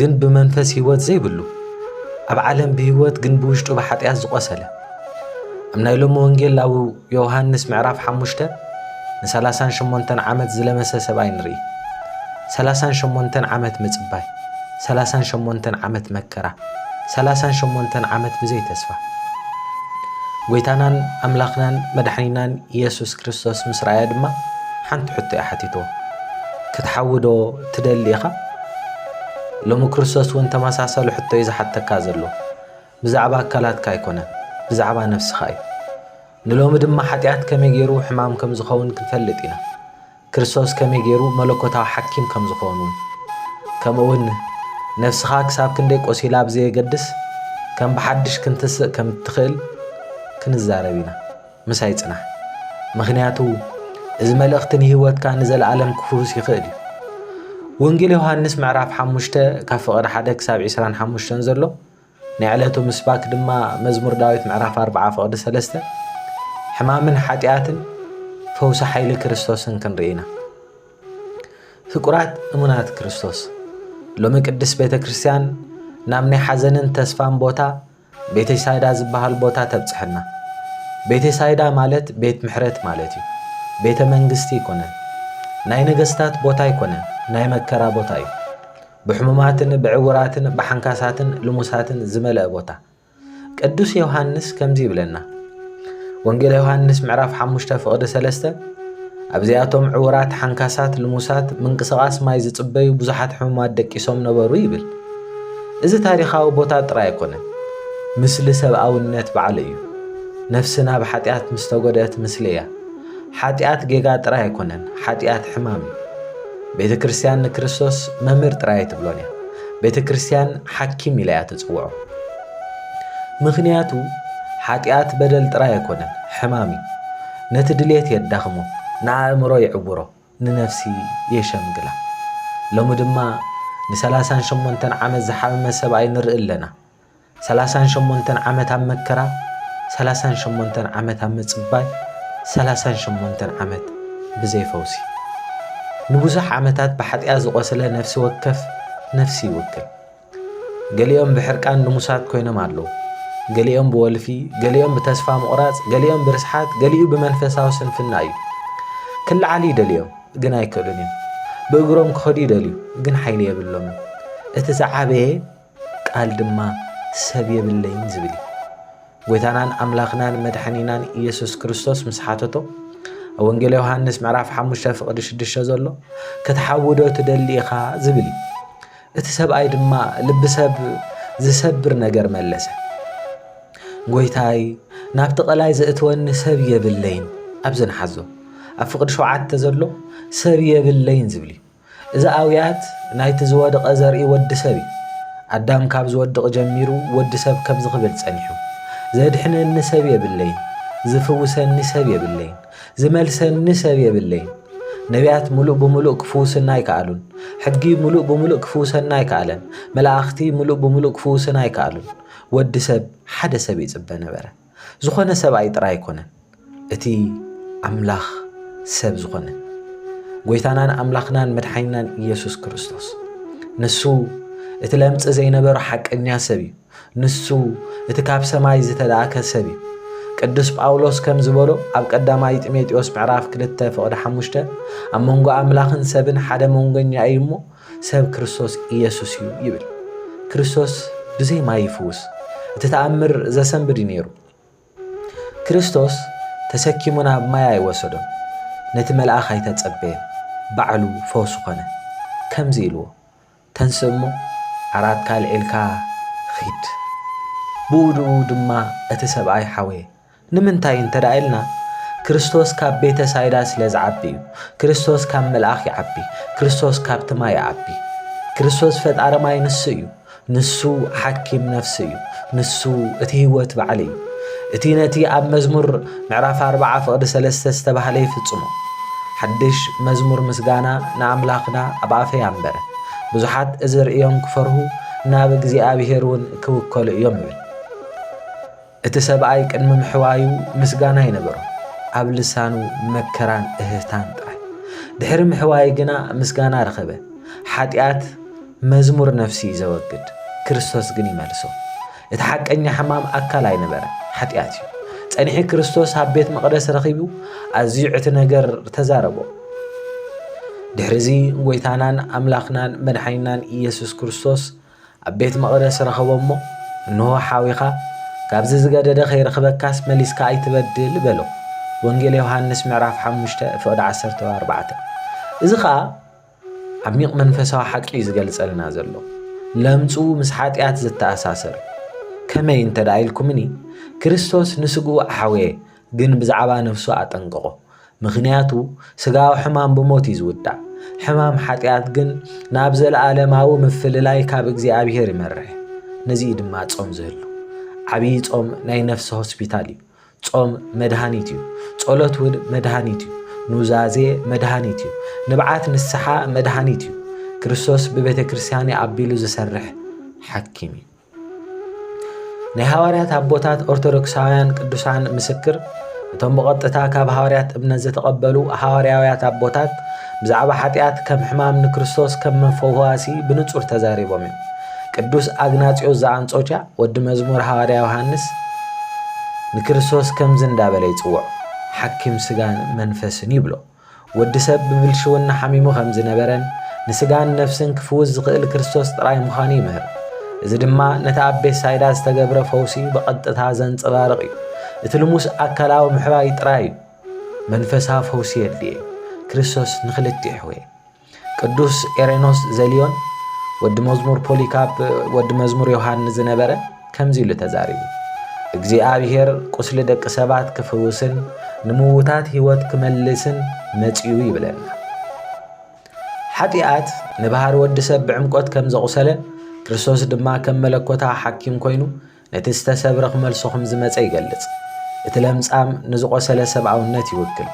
ግን ብመንፈስ ህይወት ዘይብሉ ኣብ ዓለም ብህይወት ግን ብውሽጡ ብሓጢኣት ዝቖሰለ ኣብ ናይ ሎሚ ወንጌል ኣብ ዮሃንስ ምዕራፍ ሓሙሽተ ንሰላሳን ሸሞንተን ዓመት ዝለመሰ ሰብኣይ ንርኢ ሰላሳን ሸሞንተን ዓመት ምጽባይ ሰላሳን ሸሞንተን ዓመት መከራ ሰላሳን ሸሞንተን ዓመት ብዘይ ተስፋ ጎይታናን ኣምላኽናን መድሓኒናን ኢየሱስ ክርስቶስ ምስ ረኣያ ድማ ሓንቲ ሕቶ እያ ሓቲትዎ ክትሓውዶ ትደሊ ኢኻ? ሎሚ ክርስቶስ እውን ተመሳሳሊ ሕቶ እዩ ዝሓተካ ዘሎ። ብዛዕባ ኣካላትካ ኣይኰነን፣ ብዛዕባ ነፍስኻ እዩ። ንሎሚ ድማ ሓጢኣት ከመይ ገይሩ ሕማም ከም ዝኸውን ክንፈልጥ ኢና። ክርስቶስ ከመይ ገይሩ መለኮታዊ ሓኪም ከም ዝዀን እውን። ከምኡውን ነፍስኻ ክሳብ ክንደይ ቈሲላ ብዘየገድስ ከም ብሓድሽ ክንትስእ ከም እትኽእል ክንዛረብ ኢና። ምሳይ ጽናሕ ምክንያቱ እዚ መልእክቲ ንሂወትካ ንዘልኣለም ክፍውስ ይክእል እዩ ወንጌል ዮሃንስ ምዕራፍ ሓሙሽተ ካብ ፍቅሪ ሓደ ክሳብ ዒስራን ሓሙሽተን ዘሎ ናይ ዕለቱ ምስባክ ድማ መዝሙር ዳዊት ምዕራፍ ኣርብዓ ፍቅዲ ሰለስተ ሕማምን ሓጢኣትን ፈውሲ ሓይሊ ክርስቶስን ክንርኢ ኢና ፍቁራት እሙናት ክርስቶስ ሎሚ ቅድስት ቤተ ክርስቲያን ናብ ናይ ሓዘንን ተስፋን ቦታ ቤተሳይዳ ዝበሃል ቦታ ተብጽሐና። ቤተሳይዳ ማለት ቤት ምሕረት ማለት እዩ። ቤተ መንግስቲ ኣይኮነን። ናይ ነገስታት ቦታ ኣይኮነን። ናይ መከራ ቦታ እዩ። ብሕሙማትን ብዕውራትን ብሓንካሳትን ልሙሳትን ዝመልአ ቦታ። ቅዱስ ዮሃንስ ከምዚ ይብለና። ወንጌል ዮሃንስ ምዕራፍ ሓሙሽተ ፍቕዲ ሰለስተ ኣብዚኣቶም ዕውራት፣ ሓንካሳት፣ ልሙሳት፣ ምንቅስቓስ ማይ ዝጽበዩ ብዙሓት ሕሙማት ደቂሶም ነበሩ ይብል። እዚ ታሪኻዊ ቦታ ጥራይ ኣይኮነን፣ ምስሊ ሰብኣውነት ባዕሉ እዩ። ነፍስና ብሓጢኣት ምስ ተጎድእት ምስሊ እያ። ሓጢኣት ጌጋ ጥራይ ኣይኮነን፣ ሓጢኣት ሕማም እዩ። ቤተ ክርስቲያን ንክርስቶስ መምህር ጥራይ ኣይትብሎን እያ። ቤተ ክርስቲያን ሓኪም ኢላ እያ ትጽውዖ። ምኽንያቱ ሓጢኣት በደል ጥራይ ኣይኮነን፣ ሕማም እዩ። ነቲ ድሌት የዳኽሞ፣ ንኣእምሮ ይዕውሮ፣ ንነፍሲ የሸምግላ። ሎሚ ድማ ንሰላሳን ሸሞንተን ዓመት ዝሓመመ ሰብኣይ ንርኢ ኣለና። ሰላሳን ሸሞንተን ዓመት ኣብ መከራ፣ ሰላሳን ሸሞንተን ዓመት ኣብ ምጽባይ፣ ሰላሳን ሸሞንተን ዓመት ብዘይ ፈውሲ። ንብዙሕ ዓመታት ብሓጢኣት ዝቖሰለ ነፍሲ ወከፍ ነፍሲ ይውክል። ገሊኦም ብሕርቃን ልሙሳት ኰይኖም ኣለዉ፣ ገሊኦም ብወልፊ፣ ገሊኦም ብተስፋ ምቝራጽ፣ ገሊኦም ብርስሓት፣ ገሊኡ ብመንፈሳዊ ስንፍና እዩ። ክለዓሉ ይደልዮም፣ ግን ኣይክእሉን እዮም። ብእግሮም ክኸዱ ይደልዩ፣ ግን ሓይሊ የብሎምን። እቲ ዝዓበየ ቃል ድማ ሰብ የብለይን ዝብል እዩ። ጐይታናን ኣምላኽናን መድሓኒናን ኢየሱስ ክርስቶስ ምስ ሓተቶ ኣብ ወንጌል ዮሃንስ ምዕራፍ ሓሙሽተ ፍቕዲ ሽዱሽተ ዘሎ ክትሓውዶ ትደሊ ኢኻ ዝብል እዩ። እቲ ሰብኣይ ድማ ልቢ ሰብ ዚሰብር ነገር መለሰ፣ ጐይታይ፣ ናብቲ ቐላይ ዜእትወኒ ሰብ የብለይን። ኣብዚ ንሓዞ፣ ኣብ ፍቕዲ ሸውዓተ ዘሎ ሰብ የብለይን ዚብል እዩ። እዚ ኣውያት ናይቲ ዝወድቐ ዘርኢ ወዲ ሰብ እዩ። ኣዳም ካብ ዚወድቕ ጀሚሩ ወዲ ሰብ ከምዚ ኺብል ጸኒሑ፣ ዜድሕነኒ ሰብ የብለይን፣ ዚፍውሰኒ ሰብ የብለይን። ዝመልሰኒ ሰብ የብለይን። ነብያት ምሉእ ብምሉእ ክፍውስና ኣይከኣሉን። ሕጊ ምሉእ ብምሉእ ክፍውሰና ኣይከኣለን። መላእኽቲ ምሉእ ብምሉእ ክፍውስና ኣይከኣሉን። ወዲ ሰብ ሓደ ሰብ ይጽበ ነበረ። ዝኾነ ሰብኣይ ጥራይ ኣይኮነን። እቲ ኣምላኽ ሰብ ዝኾነ ጎይታናን ኣምላኽናን መድሓኒናን ኢየሱስ ክርስቶስ ንሱ እቲ ለምጽ ዘይነበሮ ሓቀኛ ሰብ እዩ። ንሱ እቲ ካብ ሰማይ ዝተላእከ ሰብ እዩ። ቅዱስ ጳውሎስ ከም ዝበሎ ኣብ ቀዳማይ ጢሞቴዎስ ምዕራፍ ክልተ ፍቕዲ ሓሙሽተ ኣብ መንጎ ኣምላኽን ሰብን ሓደ መንጎኛ እዩ እሞ ሰብ ክርስቶስ ኢየሱስ እዩ ይብል። ክርስቶስ ብዘይ ማይ ይፍውስ እቲ ተኣምር ዘሰንብድ እዩ ነይሩ። ክርስቶስ ተሰኪሙ ናብ ማይ ኣይወሰዶን ነቲ መልኣኽ ኣይተጸበየን ባዕሉ ፈውሱ ኮነ። ከምዚ ኢልዎ ተንስእ እሞ ዓራትካ ኣልዒልካ ኺድ። ብኡድኡ ድማ እቲ ሰብኣይ ሓወየ። ንምንታይ እንተ ኢልና፣ ክርስቶስ ካብ ቤተ ሳይዳ ስለ ዝዓቢ እዩ። ክርስቶስ ካብ መልኣኽ ይዓቢ። ክርስቶስ ካብቲ ማይ ይዓቢ። ክርስቶስ ፈጣሪ ማይ ንሱ እዩ። ንሱ ሓኪም ነፍሲ እዩ። ንሱ እቲ ህይወት ባዕሉ እዩ። እቲ ነቲ ኣብ መዝሙር። ምዕራፍ ኣርብዓ ፍቕዲ ሰለስተ ዝተባህለ ይፍጽሞ። ሓድሽ መዝሙር ምስጋና ንኣምላኽና ኣብ ኣፈይ ኣንበረ። ብዙሓት እዚ ርእዮም ክፈርሁ ናብ እግዚኣብሄር እውን ክውከሉ እዮም ይብል። እቲ ሰብኣይ ቅድሚ ምሕዋዩ ምስጋና ኣይነበሮ፣ ኣብ ልሳኑ መከራን እህህታን ጥራይ። ድሕሪ ምሕዋይ ግና ምስጋና ረኸበ። ሓጢኣት መዝሙር ነፍሲ እዩ ዘወግድ፣ ክርስቶስ ግን ይመልሶ። እቲ ሓቀኛ ሕማም ኣካል ኣይነበረን፣ ሓጢኣት እዩ። ጸኒሒ ክርስቶስ ኣብ ቤት መቕደስ ረኺቡ ኣዝዩ ዕቲ ነገር ተዛረቦ። ድሕርዚ ጎይታናን ኣምላኽናን መድሓኒናን ኢየሱስ ክርስቶስ ኣብ ቤት መቕደስ ረኸቦ እሞ እንሆ ሓዊኻ ካብዚ ዝገደደ ከይረኽበካስ መሊስካ ኣይትበድል በሎ። ወንጌል ዮሃንስ ምዕራፍ ሓሙሽተ ፍቕዲ ዓሰርተ ኣርባዕተ እዚ ኸኣ ዓሚቕ መንፈሳዊ ሓቂ እዩ ዝገልጸልና ዘሎ። ለምጹ ምስ ሓጢኣት ዝተኣሳሰር ከመይ እንተ ደኣ ኢልኩምኒ፣ ክርስቶስ ንስግኡ ኣሕወየ፣ ግን ብዛዕባ ነፍሱ ኣጠንቀቖ። ምኽንያቱ ስጋዊ ሕማም ብሞት እዩ ዝውዳእ፣ ሕማም ሓጢኣት ግን ናብ ዘለኣለማዊ ምፍልላይ ካብ እግዚኣብሄር ይመርሕ። ነዚ እዩ ድማ ጾም ዝህሉ። ዓብዪ ጾም ናይ ነፍሲ ሆስፒታል እዩ። ጾም መድሃኒት እዩ። ጸሎት እውን መድሃኒት እዩ። ኑዛዜ መድሃኒት እዩ። ንብዓት ንስሓ መድሃኒት እዩ። ክርስቶስ ብቤተ ክርስቲያን'ዩ ኣቢሉ ዝሰርሕ ሓኪም እዩ። ናይ ሃዋርያት ኣቦታት ኦርቶዶክሳውያን ቅዱሳን ምስክር እቶም ብቐጥታ ካብ ሃዋርያት እምነት ዘተቐበሉ ሃዋርያውያት ኣቦታት ብዛዕባ ሓጢኣት ከም ሕማም ንክርስቶስ ከም መፈዋሲ ብንጹር ተዛሪቦም እዮም። ቅዱስ ኣግናጽዮስ ዘኣንጾኪያ ወዲ መዝሙር ሃዋርያ ዮሃንስ ንክርስቶስ ከምዚ እንዳበለ ይጽውዖ፣ ሓኪም ስጋን መንፈስን ይብሎ። ወዲ ሰብ ብብልሽውና ሓሚሙ ከም ዝነበረን ንስጋን ነፍስን ክፍውስ ዝኽእል ክርስቶስ ጥራይ ምዃኑ ይምህር። እዚ ድማ ነቲ ኣብ ቤትሳይዳ ዝተገብረ ፈውሲ ብቐጥታ ዘንጸባርቕ እዩ። እቲ ልሙስ ኣካላዊ ምሕራይ ጥራይ እዩ። መንፈሳዊ ፈውሲ የድልዬ ክርስቶስ ንክልቲሕዌ። ቅዱስ ኤሬኖስ ዘልዮን ወዲ መዝሙር ፖሊካፕ ወዲ መዝሙር ዮሃንስ ዝነበረ ከምዚ ኢሉ ተዛሪቡ እግዚኣብሔር ቁስሊ ደቂ ሰባት ክፍውስን ንምውታት ህይወት ክመልስን መጺኡ ይብለና ሓጢኣት ንባህሪ ወዲ ሰብ ብዕምቆት ከም ዘቑሰለ ክርስቶስ ድማ ከም መለኮታ ሓኪም ኮይኑ ነቲ ዝተሰብረ ክመልሶ ከም ዝመጸ ይገልጽ። እቲ ለምጻም ንዝቖሰለ ሰብኣውነት ይውክል።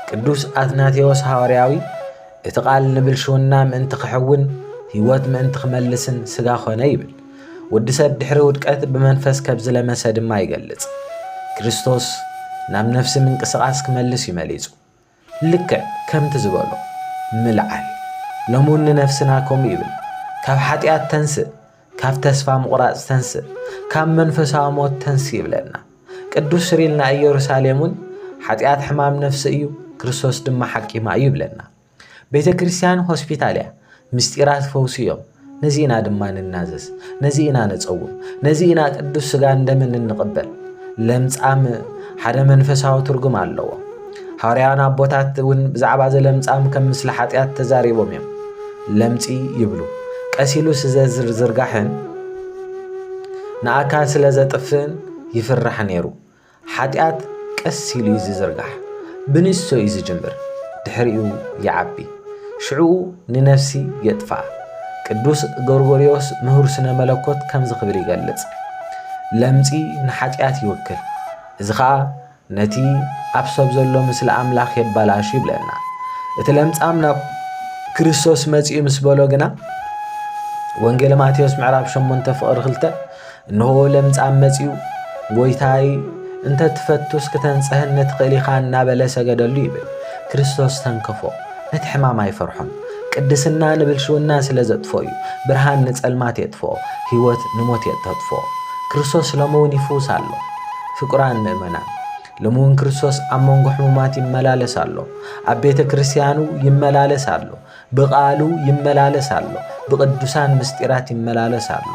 ቅዱስ ኣትናቴዎስ ሃዋርያዊ እቲ ቃል ንብልሽውና ምእንቲ ክሕውን ህይወት ምእንቲ ክመልስን ስጋ ኮነ ይብል። ወዲ ሰብ ድሕሪ ውድቀት ብመንፈስ ከብ ዝለመሰ ድማ ይገልጽ። ክርስቶስ ናብ ነፍሲ ምንቅስቓስ ክመልስ እዩ መሊጹ። ልክዕ ከምቲ ዝበሎ፣ ምልዓል፣ ሎምውን ንነፍስና ከምኡ ይብል፣ ካብ ሓጢኣት ተንስእ፣ ካብ ተስፋ ምቑራጽ ተንስእ፣ ካብ መንፈሳዊ ሞት ተንስ ይብለና። ቅዱስ ስሪል ንኣየሩሳሌምውን ሓጢኣት ሕማም ነፍሲ እዩ፣ ክርስቶስ ድማ ሓኪማ እዩ ይብለና። ቤተ ክርስቲያን ሆስፒታል እያ። ምስጢራት ፈውሲ እዮም። ነዚ ኢና ድማ ንናዘዝ፣ ነዚ ኢና ንጸውም፣ ነዚ ኢና ቅዱስ ስጋን ደምን እንቕበል። ለምጻም ሓደ መንፈሳዊ ትርጉም ኣለዎ። ሃዋርያውያን ኣቦታት እውን ብዛዕባ እዚ ለምጻም ከም ምስሊ ሓጢኣት ተዛሪቦም እዮም። ለምጺ ይብሉ ቀስ ኢሉ ስዘዝርዝርጋሕን ንኣካል ስለ ዘጥፍእን ይፍራሕ ነይሩ። ሓጢኣት ቀስ ኢሉ እዩ ዚዝርጋሕ፣ ብንእሽቶ እዩ ዚጅምር፣ ድሕሪኡ ይዓቢ፣ ሽዕኡ ንነፍሲ የጥፍኣ። ቅዱስ ጎርጎርዮስ ምሁር ስነ መለኮት ከምዚ ክብል ይገልጽ፣ ለምጺ ንሓጢኣት ይውክል፣ እዚ ኸኣ ነቲ ኣብ ሰብ ዘሎ ምስሊ ኣምላኽ የባላሹ ይብለና። እቲ ለምጻም ናብ ክርስቶስ መጺኡ ምስ በሎ ግና ወንጌል ማቴዎስ ምዕራፍ 8 ፍቕሪ 2 እንሆ ለምጻም መጺኡ፣ ጐይታይ፣ እንተ ትፈቱስ ክተንጽሀኒ ትኽእል ኢኻ እናበለ ሰገደሉ ይብል። ክርስቶስ ተንከፎ። ነቲ ሕማም ኣይፈርሖን። ቅድስና ንብልሽውና ስለ ዘጥፍኦ እዩ። ብርሃን ንጸልማት የጥፍኦ፣ ህይወት ንሞት የተትፍኦ። ክርስቶስ ሎሚ እውን ይፍውስ ኣሎ። ፍቁራን ምእመናን፣ ሎሚ እውን ክርስቶስ ኣብ መንጎ ሕሙማት ይመላለስ ኣሎ። ኣብ ቤተ ክርስቲያኑ ይመላለስ ኣሎ። ብቓሉ ይመላለስ ኣሎ፣ ብቕዱሳን ምስጢራት ይመላለስ ኣሎ።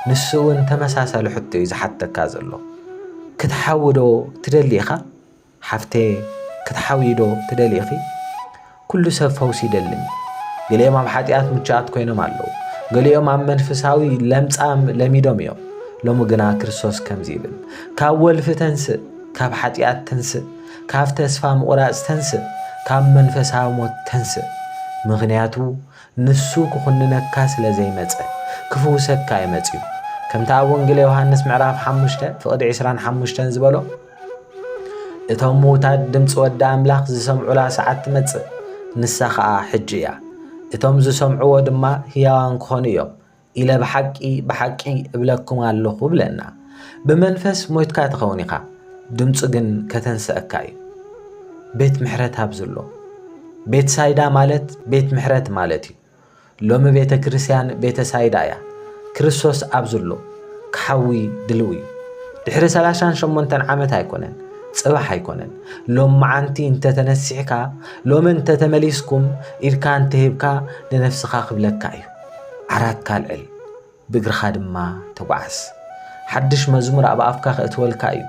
ንሱውን ተመሳሳሊ ሕቶ እዩ ዝሓተካ ዘሎ። ክትሓዊዶ ትደሊ ኢኻ? ሓፍተየ ክትሓዊዶ ትደሊ ኢኺ? ኩሉ ሰብ ፈውሲ ይደልን እዩ። ገሊኦም ኣብ ሓጢኣት ምቹኣት ኮይኖም ኣለዉ። ገሊኦም ኣብ መንፍሳዊ ለምጻም ለሚዶም እዮም። ሎሚ ግና ክርስቶስ ከምዚ ይብል፣ ካብ ወልፊ ተንስእ፣ ካብ ሓጢኣት ተንስእ፣ ካብ ተስፋ ምቑራጽ ተንስእ፣ ካብ መንፈሳዊ ሞት ተንስእ፣ ምኽንያቱ ንሱ ክኹንነካ ስለ ዘይመጸ፣ ክፍውሰካ እዩ መጺኡ። ከምቲ ኣብ ወንግለ ዮሃንስ ምዕራፍ ሓሙሽተ ፍቕዲ ዕስራን ሓሙሽተን ዝበሎ፣ እቶም ምዉታት ድምጺ ወዲ ኣምላኽ ዝሰምዑላ ሰዓት ትመጽእ፣ ንሳ ኸኣ ሕጂ እያ። እቶም ዝሰምዕዎ ድማ ህያዋን ክኾኑ እዮም፣ ኢለ ብሓቂ ብሓቂ እብለኩም ኣለኹ ብለና። ብመንፈስ ሞይትካ ትኸውን ኢኻ፣ ድምፁ ግን ከተንስኣካ እዩ። ቤት ምሕረት ኣብዝሎ ቤት ሳይዳ ማለት ቤት ምሕረት ማለት እዩ። ሎሚ ቤተ ክርስቲያን ቤተ ሳይዳ እያ። ክርስቶስ ኣብዝሎ ክሓዊ ድልው እዩ። ድሕሪ ሰላሳን ሸሞንተን ዓመት ኣይኮነን ጽባሕ ኣይኮነን ሎም መዓንቲ እንተተነሲሕካ ሎሚ እንተተመሊስኩም ኢድካ እንተሂብካ ንነፍስኻ ክብለካ እዩ። ዓራትካ ኣልዕል፣ ብእግርኻ ድማ ተጓዓዝ። ሓድሽ መዝሙር ኣብ ኣፍካ ኼእትወልካ እዩ፣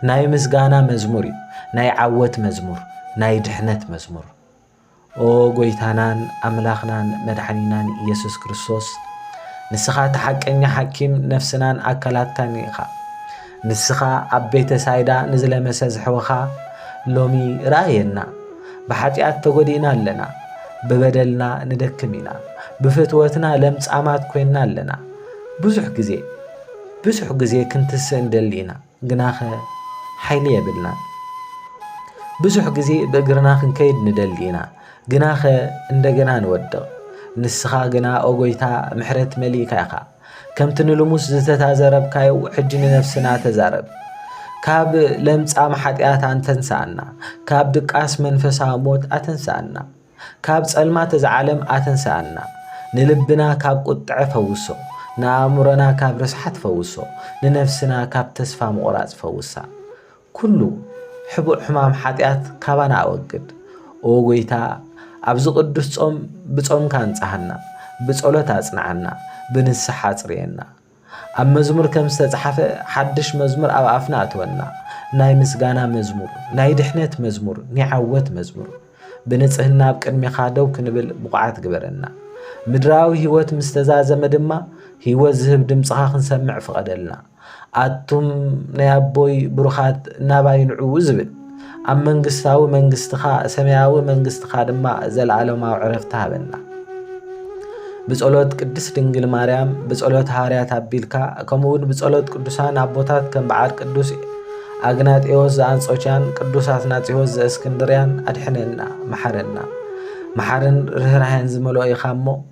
ናይ ምስጋና መዝሙር እዩ፣ ናይ ዓወት መዝሙር፣ ናይ ድሕነት መዝሙር። ኦ ጐይታናን ኣምላኽናን መድሓኒናን ኢየሱስ ክርስቶስ፣ ንስኻ እቲ ሓቀኛ ሓኪም ነፍስናን ኣካላትካን ኢኻ። ንስኻ ኣብ ቤተ ሳይዳ ንዝለመሰ ዝሕወኻ ሎሚ ርኣየና። ብሓጢኣት ተጎዲእና ኣለና። ብበደልና ንደክም ኢና። ብፍትወትና ለምጻማት ኮይንና ኣለና። ብዙሕ ግዜ ብዙሕ ግዜ ክንትስእ ንደሊ ኢና፣ ግናኸ ሓይሊ የብልናን። ብዙሕ ግዜ ብእግርና ክንከይድ ንደሊ ኢና፣ ግናኸ እንደገና ንወድቕ። ንስኻ ግና ኦጎይታ ምሕረት መሊእካ ኢኻ። ከምቲ ንልሙስ ዝተታዘረብካዮ ሕጂ ንነፍስና ተዛረብ። ካብ ለምጻም ሓጢኣት ኣንተንሳኣና፣ ካብ ድቃስ መንፈሳዊ ሞት ኣተንሳኣና፣ ካብ ጸልማት እዛ ዓለም ኣተንሳኣና። ንልብና ካብ ቁጥዐ ፈውሶ፣ ንኣእምሮና ካብ ርስሓት ፈውሶ፣ ንነፍስና ካብ ተስፋ ምቑራጽ ፈውሳ። ኩሉ ሕቡእ ሕማም ሓጢኣት ካባና ኣወግድ። ኦ ጎይታ ኣብዚ ቅዱስ ጾም ብጾምካ ኣንጽሃና፣ ብጸሎት ኣጽንዓና፣ ብንስሓ ኣጽርየና። ኣብ መዝሙር ከም ዝተጽሓፈ ሓድሽ መዝሙር ኣብ ኣፍና እትወና፣ ናይ ምስጋና መዝሙር፣ ናይ ድሕነት መዝሙር፣ ናይ ዓወት መዝሙር። ብንጽህና ኣብ ቅድሜኻ ደው ክንብል ብቑዓት ግበረና። ምድራዊ ህይወት ምስ ተዛዘመ ድማ ህይወት ዝህብ ድምጽኻ ክንሰምዕ ፍቐደልና። ኣቱም ናይ ኣቦይ ብሩኻት ናባይ ንዑ ዝብል ኣብ መንግስታዊ መንግስትኻ ሰማያዊ መንግስትኻ ድማ ዘለዓለማዊ ዕረፍቲ ሃበና ብጸሎት ቅድስት ድንግል ማርያም ብጸሎት ሃዋርያት ኣቢልካ ከምኡውን ብጸሎት ቅዱሳን ኣቦታት ከም በዓል ቅዱስ ኣግናጢዎስ ዘኣንጾችያን ቅዱስ ኣትናጺዎስ ዘእስክንድርያን ኣድሕነና መሓረና መሓርን ርኅራኄን ዝመልኦ ኢኻ እሞ